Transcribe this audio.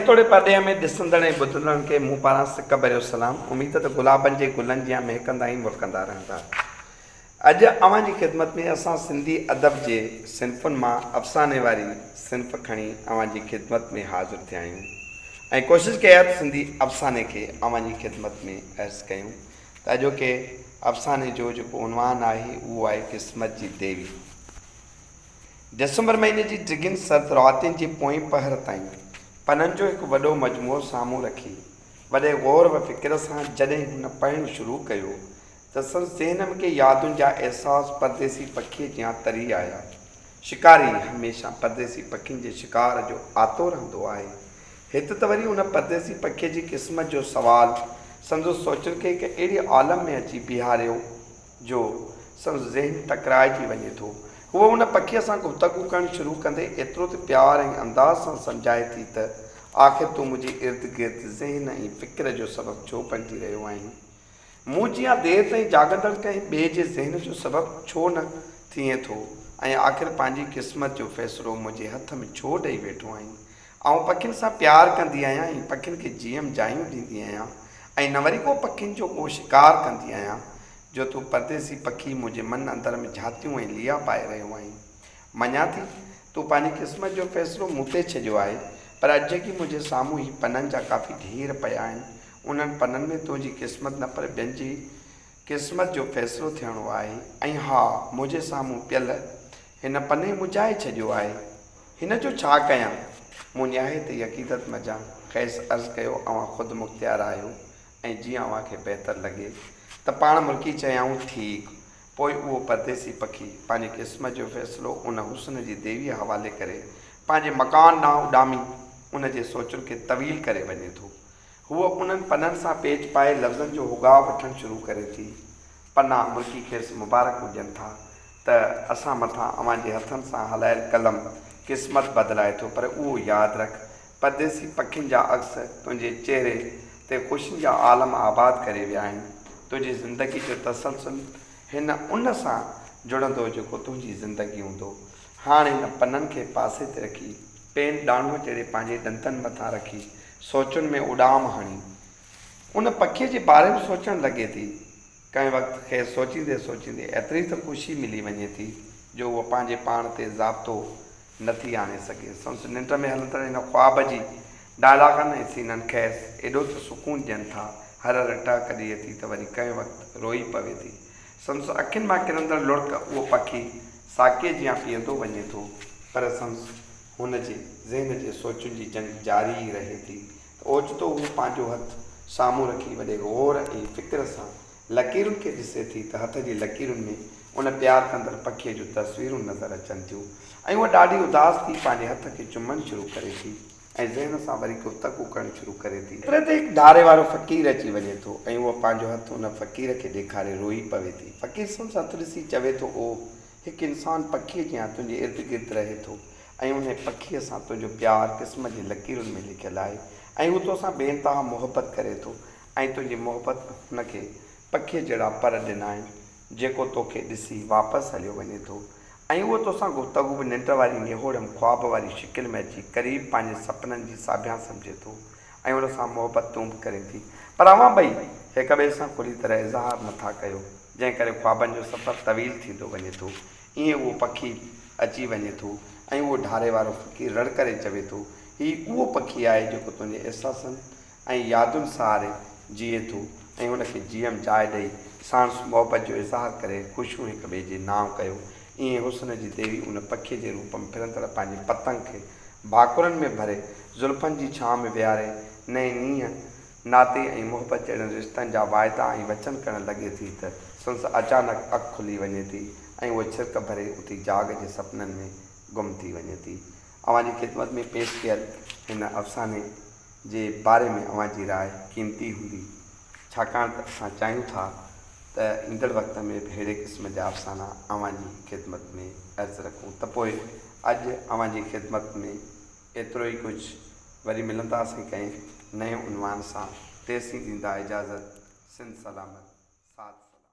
توڙي پرڏيهه ۾ ڏسندڙ ۽ ٻڌندڙن کي مون پاران سڪ ڀريو سلام. اميد ته گلابن جي گلن جيان مهڪندا ۽ مرڪندا رهندا. اڄ اوهان جي خدمت ۾ اسان سنڌي ادب جي صنفن مان افساني واري صنف کڻي اوهان جي خدمت ۾ حاضر ٿيا آهيون ۽ ڪوشش ڪئي آهي ته سنڌي افساني کي اوهان جي خدمت ۾ عرض ڪيون ته اڄوڪي افساني جو جيڪو عنوان آهي اهو آهي قسمت جي ديوي. ڊسمبر مهيني جي ڊگهين سرد راتين جي پوئين پهر تائين پنن جو هڪ وڏو مجموعو سامهون رکي، وڏي غور و فڪر سان جڏهن هن پڙهڻ شروع ڪيو ته سندس ذهن ۾ ڪي يادن جا احساس پرديسي پکيء جيان تري آيا. شڪاري هميشه پرديسي پکين جي شڪار جو آتو رهندو آهي. هت ته وري ان پرديسي پکيء جي قسمت جو سوال سندس سوچن کي هڪ اهڙي عالم ۾ اچي بيهاريو، جو سندس ذهن ٽڪرائجي وڃي ٿو. هوء ان پکيء سان گفتگو ڪرڻ شروع ڪندي ايترو ته پيار ۽ انداز سان سمجهائي ٿي ته، آخر تون منهنجي ارد گرد ذهن ۽ فڪر جو سبب ڇو بڻجي رهيو آهين؟ مون جيان دير تائين جاڳندڙ ڪنهن ٻئي جي ذهن جو سبب ڇو نه ٿئين ٿو ۽ آخر پنهنجي قسمت جو فيصلو منهنجي هٿ ۾ ڇو ڏئي ويٺو آهين؟ آئون پکين سان پيار ڪندي آهيان ۽ پکين کي جيم جايون ڏيندي آهيان ۽ نه وري ڪو پکين جو ڪو شڪار ڪندي آهيان جو تون پرديسي پکي منهنجي من اندر ۾ جهاتيون ۽ ليئا پائي رهيو آهين. مڃان ٿي تون پنهنجي قسمت جو فيصلو مون تي ڇڏيو آهي پر اڄ جيڪي منهنجي سامهون هي پنن جا ڪافي ڍير پيا آهن انهن پنن ۾ تنهنجي قسمت نه پر ٻين جي قسمت جو فيصلو ٿيڻو آهي ۽ ها منهنجي سامهون پيل هن پني مجائي ڇڏيو آهي. هن جو ڇا ڪيان؟ مون نهايت ئي عقيدت مجان کيس عرض ڪيو اوهان خود مختيار آهيو ۽ جيئن اوهان کي بهتر لڳي ته پاڻ ملڪي چيائون ٺيڪ. پوء اهو پرديسي پکي پنهنجي قسمت جو فيصلو ان حسن جي ديويء حوالي ڪري پنهنجي مڪان ڏانهن اڏامي ان جي سوچن کي طويل ڪري وڃي ٿو. هوء انهن پنن سان پيچ پائي لفظن جو هوڳاء وٺڻ شروع ڪري ٿي. پنا مرڪي کيس مبارڪون ڏين ٿا ته اسان مٿان اوهان جي هٿن سان هلايل قلم قسمت بدلائي ٿو پر اهو ياد رک پرديسي پکين جا عڪس تنهنجي چهري تي خوشين جا عالم آباد ڪري ويا آهن. تنهنجي زندگي جو تسلسل هن ان سان جڙندو جيڪو تنهنجي زندگي هوندو. هاڻ هن پنن کي پاسي تي رکي. پين ڏاندو چيري پنهنجي ڏندن مٿان رکي سوچن ۾ اڏام هڻي ان پکي جي باري ۾ سوچڻ لڳي ٿي. ڪنهن وقت کيس سوچيندي سوچيندي ايتري ته خوشي ملي وڃي ٿي جو هوء پنهنجي پاڻ تي ضابطو نه ٿي آڻي سگهي. سندس ننڊ ۾ هلندڙ ان خواب جي ڊائلاگن ۽ سينن کيس ايڏو ته سڪون ڏين ٿا هر هر ٽهڪ ڏئي ٿي ته وري ڪنهن وقت روئي پوي ٿي. سندس اکين مان ڪرندڙ لڙڪ اهو پکي ساقيء جيان پيئندو وڃي ٿو، پر سندس هن جي ذهن جي سوچن جي جنگ جاري ئي رهي ٿي ته اوچتو هو پنهنجو هٿ سامهون رکي وڏي غور ۽ فڪر سان لڪيرن کي ڏسي ٿي ته هٿ جي لڪيرن ۾ ان پيار ڪندڙ پکيء جون تصويرون نظر اچن ٿيون ۽ هوء ڏاڍي اداس ٿي پنهنجي هٿ کي چمڻ شروع ڪري ٿي. ۽ ذهن سان وري گفتگو ڪرڻ شروع ڪري ٿي. ايتري تي هڪ ڌاري وارو فقير اچي وڃي ٿو ۽ هوء پنهنجو هٿ ان فقير کي ڏيکاري روئي پوي ٿي. فقير سندس هٿ ڏسي چوي ٿو اوه! هڪ انسان پکيء جيان تنهنجي ارد گرد رهي ٿو ۽ انهي پکيء سان تنهنجو پيار قسمت جي لڪيرن ۾ لکيل آهي ۽ هو تو سان بي انتها محبت ڪري ٿو ۽ تنهنجي محبت هن کي پکيء جهڙا پر ڏنا آهن. جيڪو توکي ڏسي واپس هليو وڃي ٿو ۽ اهو توسان گفتگو به ننڊ واري نهوڙم خواب واري شڪل ۾ اچي قريب پنهنجي سپنن جي ساڀيان سمجهي ٿو ۽ ان سان محبت تون به ڪرين ٿي پر اوهان ٻئي هڪ ٻئي سان کلي طرح اظهار نه ٿا ڪيو جنهن ڪري خوابن جو سفر طويل ٿيندو وڃي ٿو ائين اهو پکي اچي وڃي ٿو ۽ اهو ڍاري وارو فقير رڙ ڪري چوي ٿو هي اهو پکي آهي جيڪو تنهنجي احساسن ۽ يادن سهاري جيئي ٿو ۽ ان کي جيم جاء ڏئي ساڻس محبت جو اظهار ڪري خوشيون هڪ ٻئي جي نانء ڪيو ايئن حسن جي ديوي ان پکي جي روپ ۾ ڦرندڙ پنهنجي پتنگ کي ڀاڪرن ۾ ڀري زلفن جي ڇانء ۾ ويهاري نئين نينهن ناتي ۽ محبت جهڙن رشتن جا واعدا ۽ وچن ڪرڻ لڳي ٿي ته سندس اچانڪ اک کلي وڃي ٿي ۽ هوء ڇرڪ ڀري اٿي جاڳ جي سپنن ۾ گم ٿي وڃي ٿي. اوهان جي خدمت ۾ پيش ڪيل هن افساني جي باري ۾ اوهان جي راء قيمتي هوندي ڇاڪاڻ ته اسان چاهيون ٿا ته ايندڙ وقت ۾ به ههڙي قسم جا افسانا اوهان جي خدمت ۾ عرض رکون ته پوء اڄ اوهان جي خدمت ۾ ايترو ئي ڪجهه وري ملنداسين ڪنهن نئين عنوان سان تيسين ڏيندا اجازت سنڌ سلامت ساٿ سلامت.